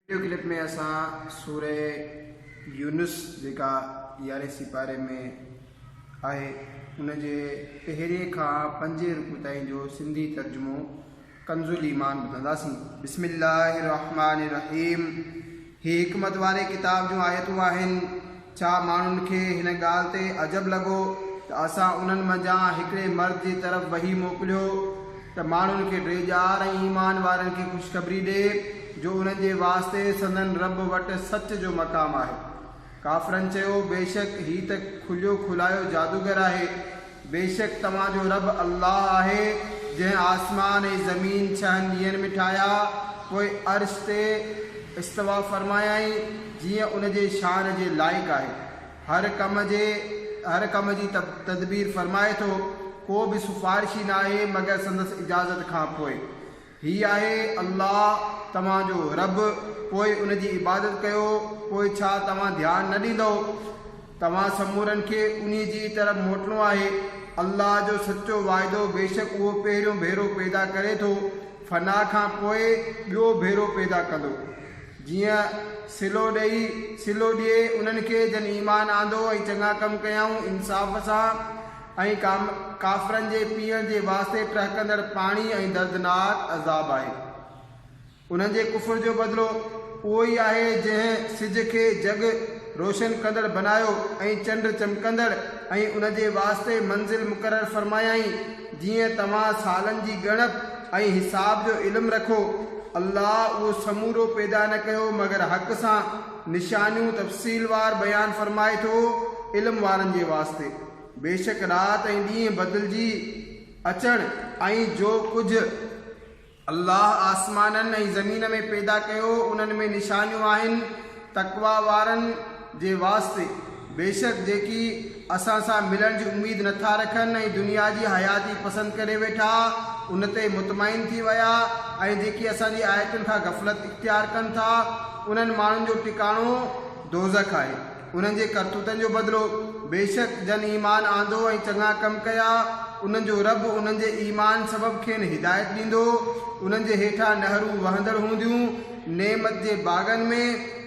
Video clip ۾ اسان سوره يونس جيڪا يارهين سيپاري ۾ آهي ان جي پهرين کان پنجين رڪوع تائين جو سنڌي ترجمو ڪنز الايمان ٻڌنداسين. بسم الله الرحمٰن الرحيم هي حڪمت واري ڪتاب جون آيتون آهن. ڇا ماڻهن کي هن ڳالهه تي عجب لڳو ته اسان انهن منجهان هڪڙي مرد جي طرف وحي موڪليو ته ماڻهن کي ڊي ڄار ۽ ايمان وارن کي خوشخبري ڏي جو انهن جي واسطي سندن رب وٽ سچ جو مقام آهي. ڪافرن چيو، بيشڪ هي ته کليو کلايو جادوگر آهي. بيشڪ توهان جو رب الله آهي جنهن آسمان ۽ زمين ڇهن ڏينهن ۾ ٺاهيا، پوء عرش تي استوا فرمايائين جيئن ان جي شان جي لائق آهي. هر ڪم جي هر ڪم جي تدبير فرمائي ٿو. ڪو به سفارشي ناهي مگر سندس اجازت کان پوء. هي آهي الله توهان جو رب، پوء ان جي عبادت ڪيو، پوء ڇا توهان ڌيان نه ڏيندؤ؟ توهان سمورن کي انهي جي ئي طرف موٽڻو آهي. الله جو سچو واعدو بيشڪ اهو پهريون ڀيرو پيدا ڪري ٿو، فنا کان پوء ٻيو ڀيرو پيدا ڪندو، جيئن صلو ڏيئي، صلو ڏئي، انهن کي جن ايمان آندو ۽ چڱا ڪم ڪيائون انصاف سان، ۽ ڪافرن جي پيئڻ جي واسطي ٽهڪندڙ پاڻي ۽ دردناڪ عذاب آهي. انهن جي ڪفر جو بدلو اهو ئي آهي جنهن سج کي جڳ روشن ڪندڙ بنايو ۽ چنڊ چمڪندڙ ۽ ان جي واسطي منزل مقرر فرمايائين جيئن توهان سالن جي ڳڻپ ۽ حساب جو علم رکو. الله اهو سمورو پيدا نه ڪيو مگر حق سان نشانيون تفصيل وار بيان فرمائي ٿو علم وارن جي واسطي. بيشڪ رات ۽ ڏينهن بدلجي اچڻ ۽ جو ڪجهه الله آسمانن ۽ زمين ۾ پيدا ڪيو انهن ۾ نشانيون آهن تقويٰ وارن جي واسطي بيشڪ جيڪي اسان سان ملڻ جي اميد نٿا رکن ۽ دنيا جي حياتي پسند ڪري ويٺا ان تي مطمئن ٿي ويا ۽ جيڪي اسان جي آيتن کان غفلت اختيار ڪن ٿا انهن ماڻهن جو ٽڪاڻو دوزخ آهي. انهن جي ڪرتوتن جو بدلو، بيشڪ جن ايمان آندو ۽ چڱا ڪم ڪيا، انهن جو رب انهن جي ايمان سبب کين هدايت ڏيندو، انهن جي هيٺان نهرون وهندڙ هونديون، نعمت جي باغن ۾،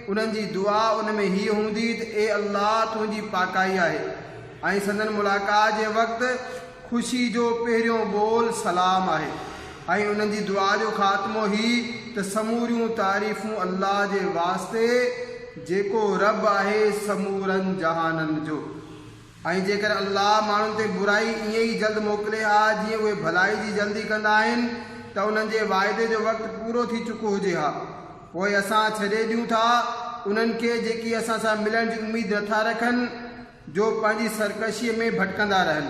انهن جي دعا ان ۾ هيء هوندي ته اي الله تنهنجي پاڪائي آهي. ۽ سندن ملاقات جي وقت خوشي جو پهريون ٻول سلام آهي ۽ انهن جي دعا جو خاتمو هي ته سموريون تعريفون الله جي واسطي جيڪو رب آهي سمورن جهانن جو ۽ جيڪڏهن الله ماڻهن تي برائي ائين ئي جلد موڪلي ها جيئن اهي ڀلائي جي جلدي ڪندا آهن ته انهن جي واعدي جو وقت پورو ٿي چڪو هجي ها پوء اسان ڇڏي ڏيون ٿا انهن کي جيڪي اسان سان ملڻ جي اميد نٿا رکن. جو پنهنجي سرڪشيء ۾ ڀٽڪندا رهن.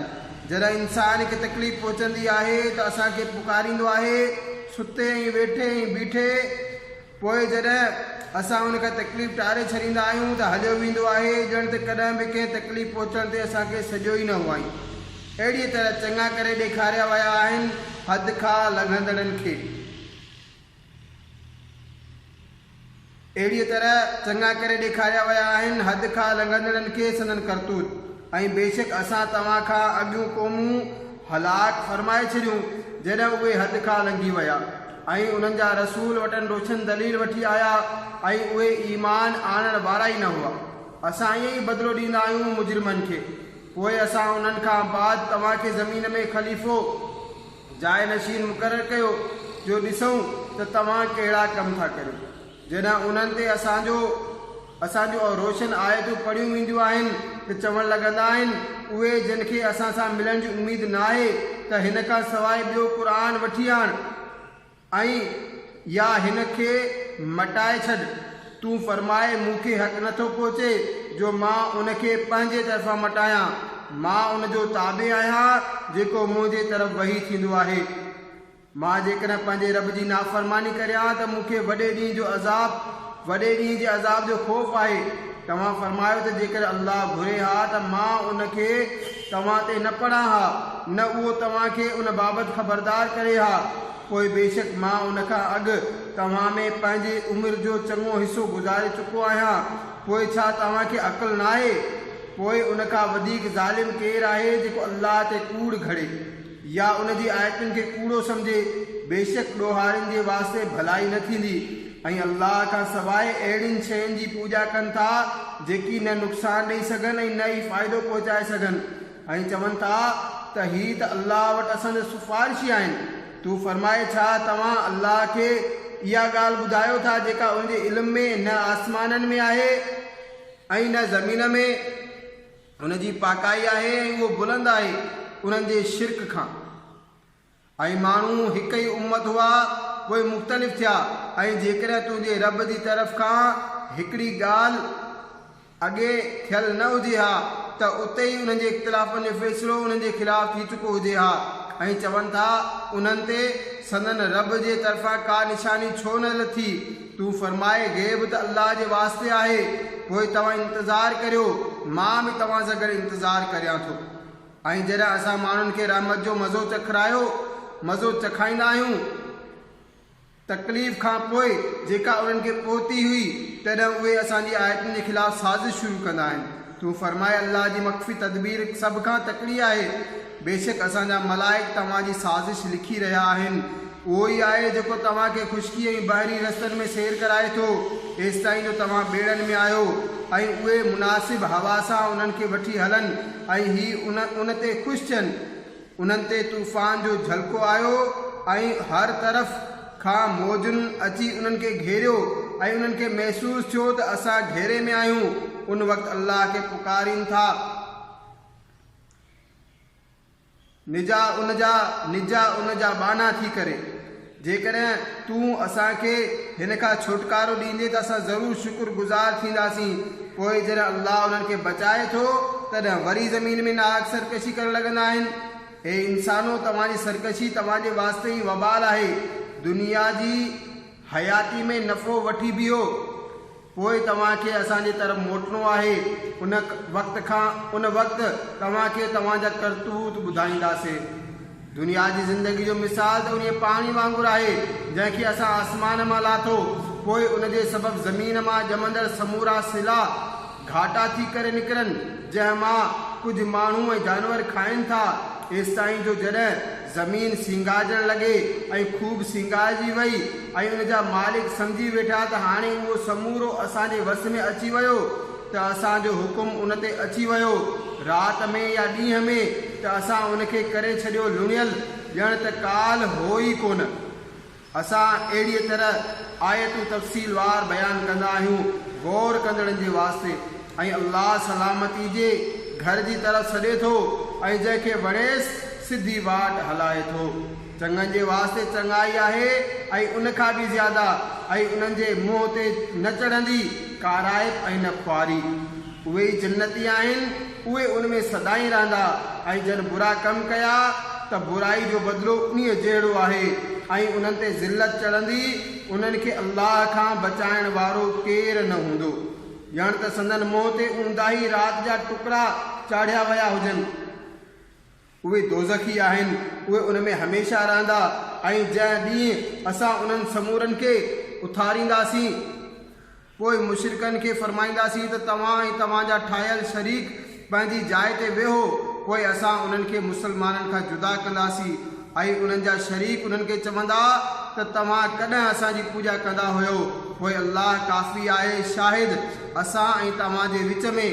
جڏهن انسان کي تڪليف پهچندي آهي ته اسان کي پڪاريندو آهي، ستي ۽ ويٺي ۽ بيٺي. پوء جڏهن اسان ان کان تڪليف ٽاري ڇڏيندا آهيون ته هليو ويندو آهي، ڄڻ ته ڪڏهن به ڪنهن تڪليف پهچڻ تي اسان کي سڏيو ئي نه هئائين. اهڙيء طرح چڱا ڪري ڏيکاريا ويا آهن حد کان لنگهندڙن کي. اهڙيء طرح چڱا ڪري ڏيکاريا ويا آهن، حد کان لنگهندڙن کي سندن ڪرتوت، ۽ بيشڪ اسان توهان کان اڳيون قومون هلاڪ فرمائي ڇڏيون جڏهن اهي حد کان لنگهي ويا، ۽ انهن جا رسول وٽن روشن دليل وٺي آيا ۽ اهي ايمان آڻڻ وارا ئي نه هئا. اسان ائين ئي بدلو ڏيندا آهيون مجرمن کي. پوء اسان انهن کان بعد توهان کي زمين ۾ خليفو، جاء نشين مقرر ڪيو جو ڏسون ته توهان ڪهڙا ڪم ٿا ڪريو. جڏهن انهن تي اسان جو اسان جون اهي روشن آيتون پڙهيون وينديون آهن ته چوڻ لڳندا آهن، اهي جن کي اسان سان ملڻ جي اميد ناهي ته هن کان سواء ٻيو قرآن وٺي آڻ. ۽ يا هن کي مٽائي ڇڏ. تون فرماء مون کي حق نه ٿو پهچي جو مان ان کي پنهنجي طرفان مٽايان، مان ان جو تابع آهيان جيڪو منهنجي طرف وحي ٿيندو آهي. مان جيڪڏهن پنهنجي رب جي نافرماني ڪريان ته مون کي وڏي ڏينهن جو عذاب، وڏي ڏينهن جي عذاب جو خوف آهي. توهان فرمايو ته جيڪڏهن الله گهري ها ته مان ان کي، توهان تي نه پڙهان ها، نه اهو توهان کي ان بابت خبردار ڪري ها، پوء بيشڪ مان ان کان اڳ توهان ۾ پنهنجي عمر جو چڱو حصو گذاري چڪو آهيان، پوء ڇا توهان کي عقل ناهي؟ پوء ان کان وڌيڪ ظالم ڪير آهي جيڪو الله تي ڪوڙ گهڙي. يا ان جي آيتن کي ڪوڙو سمجهي، بيشڪ ڏوهارين جي واسطي ڀلائي نه ٿيندي ۽ الله کان سواء اهڙين شين جي پوڄا ڪن ٿا جيڪي نه نقصان ڏئي سگهن ۽ نه ئي فائدو پهچائي سگهن ۽ چون ٿا ته هي ته الله وٽ اسان جا سفارشي آهن تون فرماء ڇا توهان الله کي اها ڳالهه ٻڌايو ٿا جيڪا ان جي علم ۾ نه آسمانن ۾ آهي ۽ نه زمين ۾؟ ان جي پاڪائي آهي ۽ اهو بلند آهي انهن جي شرڪ کان. ۽ ماڻهو هڪ ئي امت هئا پوء مختلف ٿيا ۽ جيڪڏهن تنهنجي رب جي طرف کان هڪڙي ڳالهه اڳي ٿيل نه هجي ها ته اتي ئي انهن جي اختلافن جو فيصلو انهن جي خلاف ٿي چڪو هجي ها ۽ چون ٿا انهن تي سندن رب جي طرفان ڪا نشاني ڇو نه لٿي تون فرماء، غيب ته الله جي واسطي آهي، پوء توهان انتظار ڪريو، مان به توهان سان گڏ انتظار ڪريان ٿو. ۽ جڏهن اسان ماڻهن کي رحمت جو مزو چکرايو، مزو چکائيندا آهيون، تڪليف کان پوء، جيڪا انهن کي پهتي هئي، تڏهن اهي اسان جي آيتن جي خلاف سازش شروع ڪندا آهن. تون فرماء الله جي مخفي تدبير سڀ کان تڪڙي آهي، بيشڪ اسان جا ملائڪ توهان جي سازش لکي رهيا آهن، اهو ئي آهي جيڪو توهان کي خشڪي ۽ بحري رستن ۾ سير ڪرائي ٿو ايستائين جو توهان ٻيڙن ۾ آهيو ۽ اهي مناسب هوا سان انهن کي وٺي هلن ۽ هي ان تي خوش ٿين. انهن تي طوفان جو جهلڪو آيو ۽ هر طرف کان موجن اچي انهن کي گهيريو ۽ انهن کي محسوس ٿيو ته اسان گهيري ۾ آهيون ان وقت الله کي پڪارين ٿا نجا ان جا نجا ان جا ٻانها ٿي ڪري. جيڪڏهن تون اسان کي هن کان ڇوٽڪارو ڏيندين ته اسان ضرور شڪر گذار ٿينداسين. پوء جڏهن الله انهن کي بچائي ٿو تڏهن وري زمين ۾ ناحق سرڪشي ڪرڻ لڳندا آهن. اي انسانو! توهان جي سرڪشي توهان جي واسطي ئي وبال آهي. دنيا جي حياتي ۾ نفعو وٺي بيهو. پوء توهان کي اسان جي طرف موٽڻو آهي، ان وقت کان ان وقت توهان کي توهان جا ڪرتوت ٻڌائينداسين. دنيا جي زندگيء جو مثال ته انهيء پاڻي وانگر آهي، جنهن کي اسان آسمان مان لاٿو، پوء ان جي سبب زمين مان ڄمندڙ سمورا سلا گهاٽا ٿي ڪري نڪرن، جنهن مان ڪجهه ماڻهو ۽ جانور کائن ٿا، ايستائين جو جڏهن. زمين سينگارجڻ لڳي ۽ خوب سينگارجي وئي ۽ ان جا مالڪ سمجهي ويٺا ته هاڻي اهو سمورو اسان جي وس ۾ اچي ويو ته اسان جو حڪم ان تي اچي ويو رات ۾ يا ڏينهن ۾ ته اسان ان کي ڪري ڇڏيو لڻيل ڄڻ ته ڪالهه هو ئي ڪونه. اسان اهڙيء طرح آيتون تفصيل وار بيان ڪندا آهيون غور ڪندڙن جي واسطي ۽ الله سلامتي جي گهر جي طرف سڏي ٿو ۽ جنهن کي وڻيس سڌي واٽ هلائي ٿو. چڱن جي واسطي چڱائي آهي ۽ ان کان به زياده ۽ انهن جي منهن تي نه چڙهندي ڪارائپ ۽ نه خواري. اهي ئي جنتي آهن. اهي ان ۾ سدائين رهندا ۽ جن برا ڪم ڪيا ته برائي جو بدلو انهيء جهڙو آهي ۽ انهن تي ذلت چڙهندي، انهن کي الله کان بچائڻ وارو ڪير نه هوندو. ڄڻ ته سندن منهن تي اونداهي رات جا ٽڪرا چاڙهيا ويا هجن. اهي دوزخي آهن، اهي ان ۾ هميشه رهندا، ۽ جنهن ڏينهن اسان انهن سمورن کي اٿارينداسين، پوء مشرڪن کي فرمائينداسين ته توهان ۽ توهان جا ٺاهيل شريڪ پنهنجي جاء تي ويهو، پوء اسان انهن کي مسلمانن کان جدا ڪنداسين، ۽ انهن جا شريڪ انهن کي چوندا ته توهان ڪڏهن اسان جي پوڄا ڪندا هيو، پوء الله ڪافي آهي شاهد. اسان ۽ توهان جي وچ ۾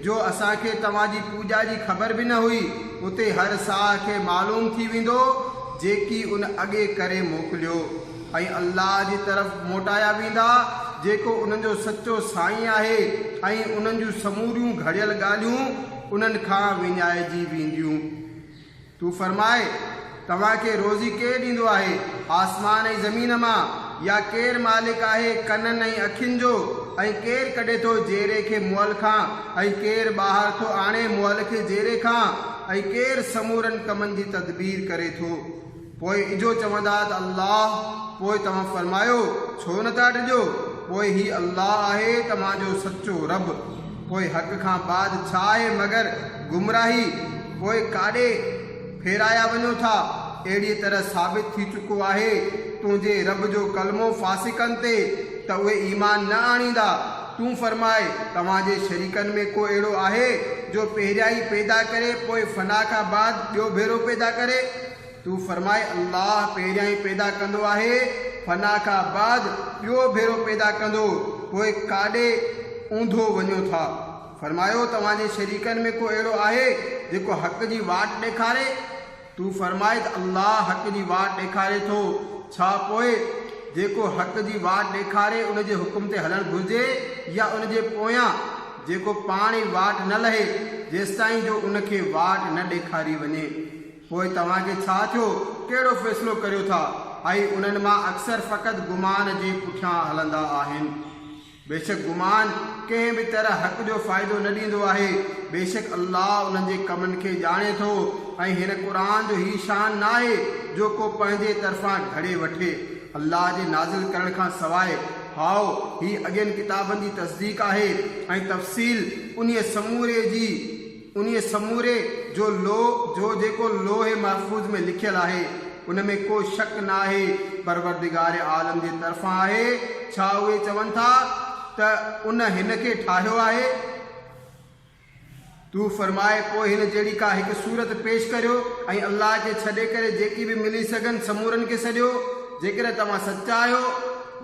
جو اسان کي توهان جي پوڄا جي خبر به نه هئي، اتي هر ساهه کي معلوم ٿي ويندو جيڪي ان اڳي ڪري موڪليو ۽ الله جي طرف موٽايا ويندا جيڪو انهن جو سچو سائين آهي ۽ انهن جون سموريون گهڙيل ڳالهيون انهن کان وڃائجي وينديون. تو فرماء، توهان کي روزي ڪير ڏيندو آهي آسمان ۽ زمين مان؟ يا ڪير مالڪ آهي ڪنن ۽ اکين جو؟ ۽ ڪير ڪڍي ٿو جيري کي مئل کان ۽ ڪير ٻاهر ٿو آڻي مئل کي جيري کان؟ ۽ ڪير سمورن ڪمن جي تدبير ڪري ٿو؟ پوء اجهو چوندا ته الله، پوء توهان فرمايو، ڇو نه ٿا ڊڄو؟ پوء هي الله آهي توهان جو سچو رب، پوء حق کان بعد ڇا آهي مگر گمراهي پوء ڪاڏي ڦيرايا وڃو ٿا، اهڙيء طرح ثابت ٿي چڪو آهي تنهنجي رب جو ڪلمو فاسقن تي ته اهي ايمان نه آڻيندا، تون فرماء، توهان جي شريڪن ۾ ڪو اهڙو آهي جو پهريائين پيدا ڪري پوء فنا کان بعد ٻيو ڀيرو پيدا ڪري؟ تون فرماء، الله پهريائين پيدا ڪندو آهي، فنا کان بعد ٻيو ڀيرو پيدا ڪندو، پوء ڪاڏي اونڌو وڃو ٿا؟ فرمايو، توهان جي شريڪن ۾ ڪو اهڙو آهي جيڪو حق جي واٽ ڏيکاري؟ تون فرماء ته الله حق جي واٽ ڏيکاري ٿو، ڇا پوء جيڪو حق جي واٽ ڏيکاري ان جي حڪم تي هلڻ گهرجي يا ان جي پويان جيڪو پاڻ ئي واٽ نه لهي جيستائين جو ان کي واٽ نه ڏيکاري وڃي؟ پوء توهان کي ڇا ٿيو، ڪهڙو فيصلو ڪريو ٿا؟ ۽ انهن مان اڪثر فقط گمان جي پٺيان هلندا آهن. بيشڪ گمان ڪنهن به طرح حق جو فائدو نه ڏيندو آهي. بيشڪ الله انهن جي ڪمن کي ڄاڻي ٿو ۽ هن قرآن جو هي شان نه آهي جو ڪو پنهنجي طرفان گهڙي وٺي، الله جي نازل ڪرڻ کان سواء. هائو، هي اڳين ڪتابن جي تصديق آهي ۽ تفصيل انهيء سموري جي. انهيء سموري جو لوح جو جيڪو لوح محفوظ ۾ لکيل آهي، ان ۾ ڪو شڪ ناهي پروردگار عالم جي طرفان آهي، ڇا اهي چون ٿا ته ان هن کي ٺاهيو آهي؟ تون فرماء پوء هن جهڙي ڪا هڪ صورت پيش ڪريو ۽ الله کي ڇڏي ڪري جيڪي به ملي سگهن سمورن کي سڏيو، جيڪڏهن توهان سچا آهيو.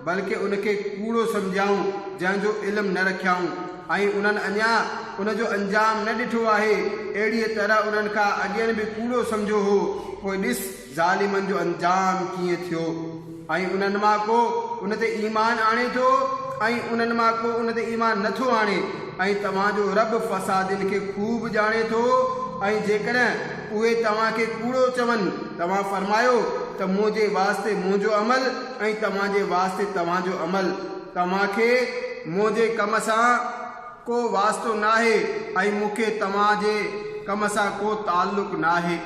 بلڪه ان کي ڪوڙو سمجهيائون جنهن جو علم نه رکيائون ۽ انهن اڃا ان جو انجام نه ڏٺو آهي، اهڙيء طرح انهن کان اڳين به ڪوڙو سمجهيو هو، پوء ڏس ظالمن جو انجام ڪيئن ٿيو. ۽ انهن مان ڪو ان تي ايمان آڻي ٿو ۽ انهن مان ڪو ان تي ايمان نه ٿو آڻي ۽ توهان جو رب فسادين کي خوب ڄاڻي ٿو ۽ جيڪڏهن اهي توهان کي ڪوڙو چون توهان فرمايو ته منهنجي واسطي منهنجو عمل ۽ توهان جي واسطي توهان جو عمل، توهان کي منهنجي ڪم سان ڪو واسطو ناهي ۽ مون کي توهان جي ڪم سان ڪو تعلق ناهي.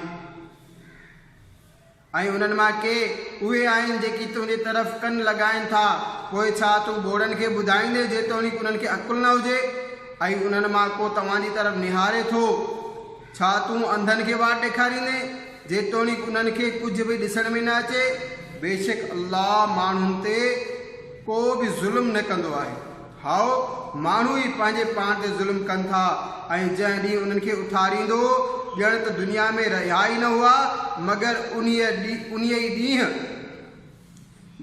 ۽ انهن مان ڪي اهي آهن جيڪي تنهنجي طرف ڪن لڳائين ٿا، پوء ڇا تون ٻوڙن کي ٻڌائيندين جيتوڻيڪ انهن کي عقل نه هجي؟ ۽ انهن مان ڪو توهان جي طرف نهاري ٿو. ڇا تون انڌن کي واٽ ڏيکاريندين جيتوڻيڪ انهن کي ڪجهه به ڏسڻ ۾ نه اچي؟ بيشڪ الله ماڻهن تي ڪو به ظلم نه ڪندو آهي. هائو، ماڻهو ئي پنهنجي پاڻ تي ظلم ڪن ٿا ۽ جنهن ڏينهن انهن کي اٿاريندو، ڄڻ ته دنيا ۾ رهيا ئي نه هئا، مگر انهيء ئي ڏينهن،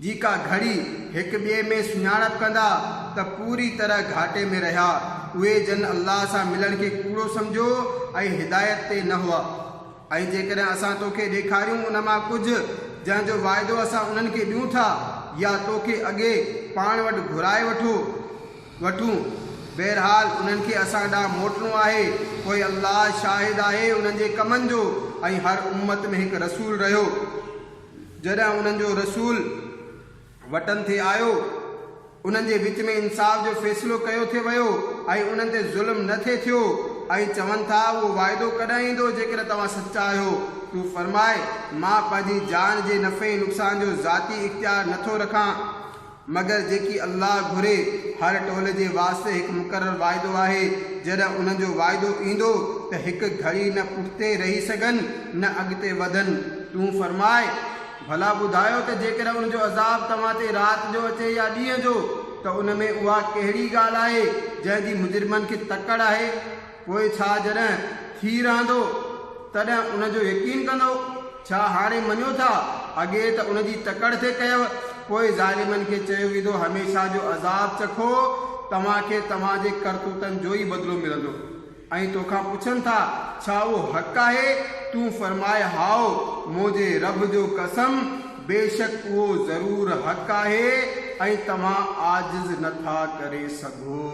جي ڪا گهڙي هڪ ٻئي ۾ سڃاڻپ ڪندا ته پوري طرح گهاٽي ۾ رهيا. اهي جن الله سان ملڻ کي ڪوڙو سمجهيو ۽ هدايت تي نه هئا. ۽ جيڪڏهن اسان تو کي ڏيکاريون ان مان ڪجهه جنهن جو واعدو اسان انهن کي ڏيون ٿا يا تو کي اڳي پاڻ وٽ گهرائي وٺو وٺون بهرحال انهن کي اسان ڏانهن موٽڻو آهي پوء الله شاهد آهي انهن جي ڪمن جو ۽ هر امت ۾ هڪ رسول رهيو جڏهن انهن جو رسول وٽن ٿي آيو، انهن جي وچ ۾ انصاف جو فيصلو ڪيو ٿي ويو ۽ انهن تي ظلم نه ٿي ٿيو ۽ چون ٿا، اهو واعدو ڪڏهن ايندو جيڪڏهن توهان سچا آهيو، تون فرماء، مان پنهنجي جان جي نفعي نقصان جو ذاتي اختيار نه ٿو رکان. مگر جيڪي الله گهري، هر ٽولي جي واسطي هڪ مقرر واعدو آهي، جڏهن انهن جو واعدو ايندو ته هڪ گهڙي نه پٺتي رهي سگهن نه اڳتي وڌن، تون فرماء، ڀلا ٻڌايو ته جيڪڏهن ان جو عذاب توهان تي رات جو اچي يا ڏينهن جو ته ان ۾ اها ڪهڙي ڳالهه آهي جنهن جي مجرمن کي تڪڙ آهي. پوء ڇا جڏهن ٿي رهندو تڏهن ان جو يقين ڪندو؟ ڇا هاڻي مڃو ٿا؟ اڳي ته ان جي تڪڙ تي ڪيو. پوء ظالمن کي چيو ويندو هميشه جو عذاب چکو، توهان کي توهان جي ڪرتوتن جو ئي بدلو ملندو. ۽ توکان پڇن ٿا، ڇا اهو حق آهي؟ تون فرماء، هائو، منهنجي رب جو قسم! بيشڪ اهو ضرور حق آهي ۽ توهان عاجز نه ٿا ڪري سگهو.